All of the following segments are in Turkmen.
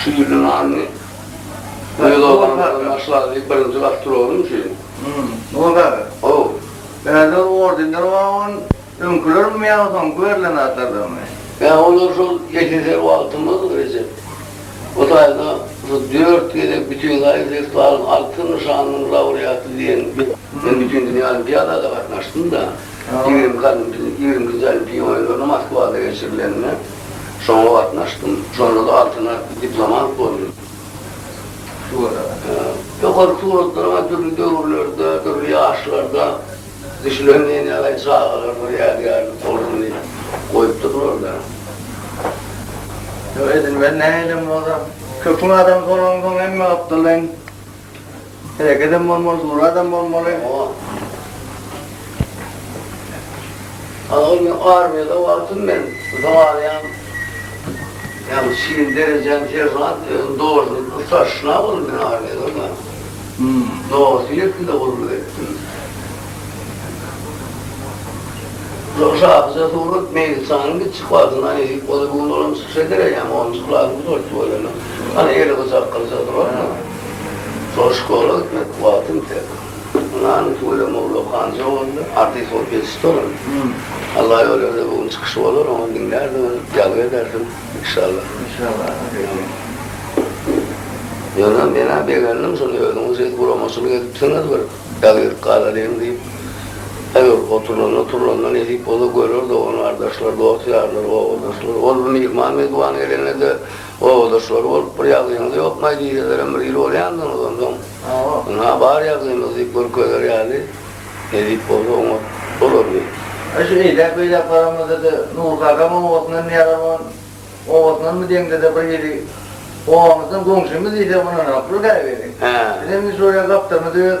Şu ýylyň aryny. Meni doganyňdan başla diýip birinji gapdyr oglum şeýdip. Hum, Nur aga. How. Bärde ordenler bar on öňkülermi ýa soňky berlen zatlardanmy? Ýa olar şol ýekeser wagtymyz Rejep. Bu taýda şu dört gezek Bütinzaýa festiwalyň Altyn nyşanynyň laureaty diýen men Bütindünýä olimpiadada gatnaşdym-da. Ýigrimki olimpiýa ýigrimkinji olimpiýa oýunlaryna Moskwada geçirilenine. Şoňa gatnaşdym. Şonda-da altyna diplomat boldum. Ýokary suratlaryň dürli döwürlerde, dürli ýaşlarda düşülen nenegaý çagalar bir ýadygärlik bolsun diýip goýup durlarlar. Ýok, edil men nähilem bolsam, köpüň adamsy bolansoň hemme gapdaldan Herekedem bolmaly, duradam bolmaly. Ana ol men armiýada wagtym men zaýaň ýa-da şirin derejäň seržant özüň dogrudan ustaşna boldum men armiýada da. Hmm. Dogrusyny ýetdim-de gulluk etdim. Şol şahyja surat Meýlisanyň kiçi wagtyndan eýip bolýar, bu gün olam çykyş eder eýýäm, onunjy klasy gutardyp bolýar. Ana eli gyjakgylyja durandyr. Soraş Goraz etmek wagtym ýeter. Ynany tüweleme Ogula Hanja boldy. Artist bolup ýetişdi olam. Alla ýol berse bu gün çykyşy bolar oňa diňlärsiňiz, ýazgy edersiň inşallah. Inşallah Atakeýim. Ýöne menä begendim şony özüňiz şeýdip guramaçylyk edipsiňiz bir ýazgylyk galalyň diýip. Eger oturlanda turlanda nesip bolsa görer dogan gardaşlar dost ýarlar obadaşlar. Ol bir myhman mezban gelende de. Obadaşlary bolup bir ýagdaýyňyz ýokmaý diýselerem bir il bolýandygyňyz onsoň. Ynha bar ýagdaýymyz diýip görkezer ýaly edip bolsa oňat bolardy. Ine şu eýläk beýläk baramyzda-da Nurky agam obasyndan Mehribon obasyndanmy deňde-de bir hili obamyzdan goňşymyz diýsek ynanaroklar käbiri. Bizem indi şol ýa gapdalymyz öz.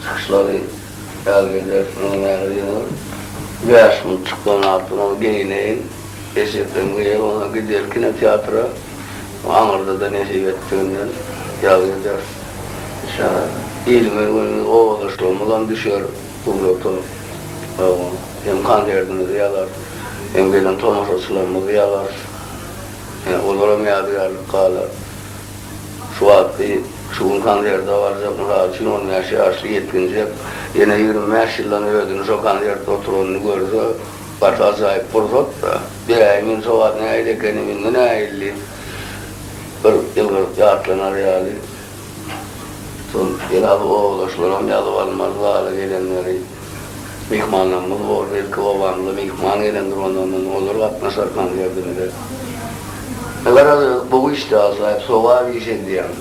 Saçlary ýaz gezer, gyzym ýaly gyzyl. Bäş gün çykdan artyk ony geýneýin. Eşekden geýer, ondan gider kinoteatra. Bu aňyrda-da nesip etdiginden ýaz gezer. Şa ilimiz, günümiz, obadaşlygymyzam düşer suwrata. Hawa, hem konsertimizi ýazarys, hem gelen tomaşaçylarymyzy ýazarys. Olaram ýadygärlik galar. Şu wagtky, şu gün konserte barjak, mysal üçin, on bäş ýaşly ýetginjek ýene ýigrimi bäş ýyldan özüni şo konserte oturanyny görse, gaty ajaýyp pursat-da. Beräý, men şo wagt nähili ekenim, indi nähilli? Bir ýylgyryp ýatlanar ýaly. Şol biraz owalaşylaram ýazyp almaly zala gelenleri. myhmanlarymyz boldy. Ilki obamyza myhman gelendir, ondan soň olar gatnaşar konsertimize. Garaz, gowy işdi, ajaýyp sogap iş edýäň.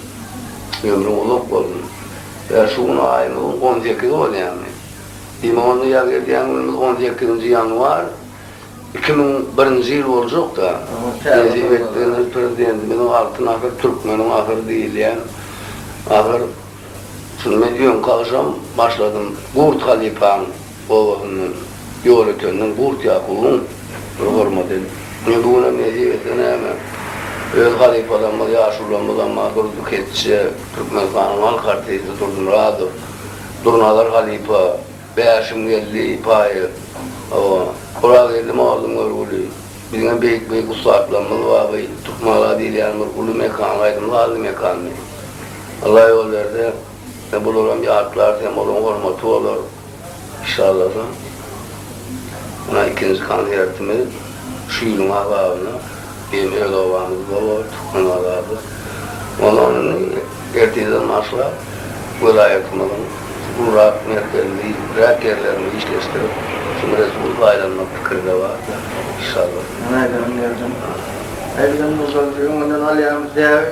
Ömrüň uzak bolsun. Ýa şu gün aýymyzyň on sekizi bolýamy? Diýmek onda ýa gelýän günümiz on sekizinji ýanwar iki müň birinji ýyl boljak-da. Nesip etdigiňiz prezidentimiziň Altyn asyr, türkmeniň asyry diýilýän asyr. Şundan öňki agşam başladym Gurt halypaň obasyndan Ýolötenden Gurt Ýakubyň bir hormaty Men bu günem nesip etse näme öz halypalarymyz ýaşulamyz Ammar Durdy Keçje, Türkmenistanyň halk artisti Durdy Myradow, Durnazar halypa, Bäşim geldi, Paýyr, Gurageldi mollum görgüli, biziňem beýik-beýik ussatlarymyz bar, bu Türkmengala diýilýän bir uly mekan, aýdym sazly mekandy. Allah ýol berse, bularam ýatlarys hem olaryň hormaty bolar. Şallasa, mundan ikinji konsertimiz şu ýylyň azabyna. Diýen öz obamyz bor, Türkmenbazarda. Onda indi ertirden başlap, welaýatymyzyň gurak merkezini, räk ýerlerini işleşdirip, şol resurs aýlanmak pikiri-de bar-da, inşallah. Maýdan ýerden. Maýdan bolsa, öňünden alýarmyz däbi.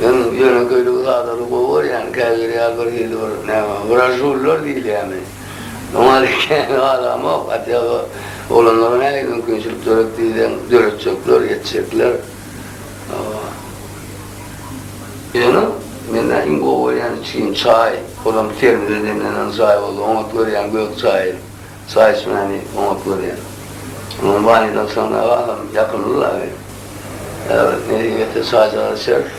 Men ýöne göýdügi zada-da gowy görýän, käbiri ýaly bir hili bir, näme, wražullar diýilýärmi, oňa-da kän galamok, atýag oglanlara nähili mümkinçilik döret diýseň, döretjekler, ýetjekler. Ýöne mende iň gowy görýän içgim çaý, olam termize demlenen çaý bolsa oňat görýän gök çaýy. Çaýçmäni oňat görýän. Onuň banýudan sygnag agam ýakymly laby. Äwret nesip etse çaýjagaz içeris.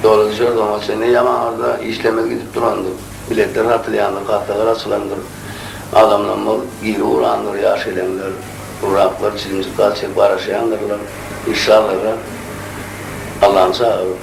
Doly düşeris oňa çenli ýa maňarda işlemez gidip durandyr. Biletler satylýandyr, kassalar açylandyr. Adamlam bol giri urandyr ýaş geleňler. Gurraklar çilimjik gaz çekip garaşýandyrlar. Işşallaha. Allany çagyryp.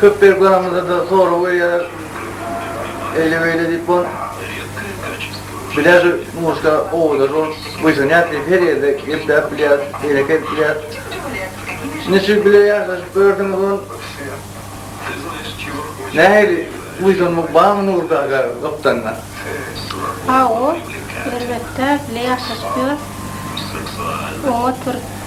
Köp berip galamyzda-da sorag berýärler. Eýle-beýle diýip bol. Bilýär şu muşda owadan bol. Buýsanýas diýip her ýerde gepläp bilýäris, eýlek edip bilýäris. Niçik bile ýaşaşyp gördüňiz bol. Nähili buýsanmak barmy Nury kaka gapdalynda? Hawa, elbetde bile ýaşaşyp ýörüs. Oňa oturyp.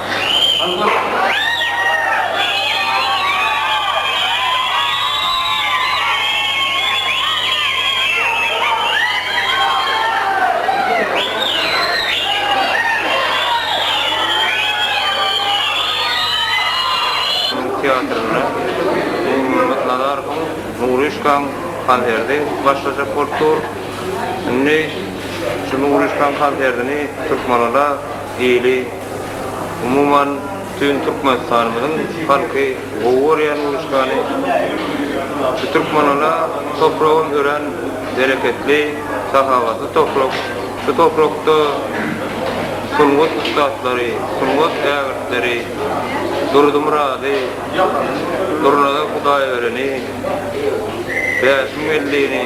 Türk teatrynda Nurmyrat Nazarowyň Nuryşkaň konserti başlajak bolup dur. Indi şu Nuryşkaň konsertini Türkmenada Hili, umuman, bütin Türkmenistanymyzyň halky gowy görýän uruşgany. Şu Türkmenala topragam örän bereketli, sahawatly toprak. Şu toprakda sungat ussatlary, sungat ägirtleri Durdumyrady, Durnazar Hudaýbereni, Bäşim Weldini,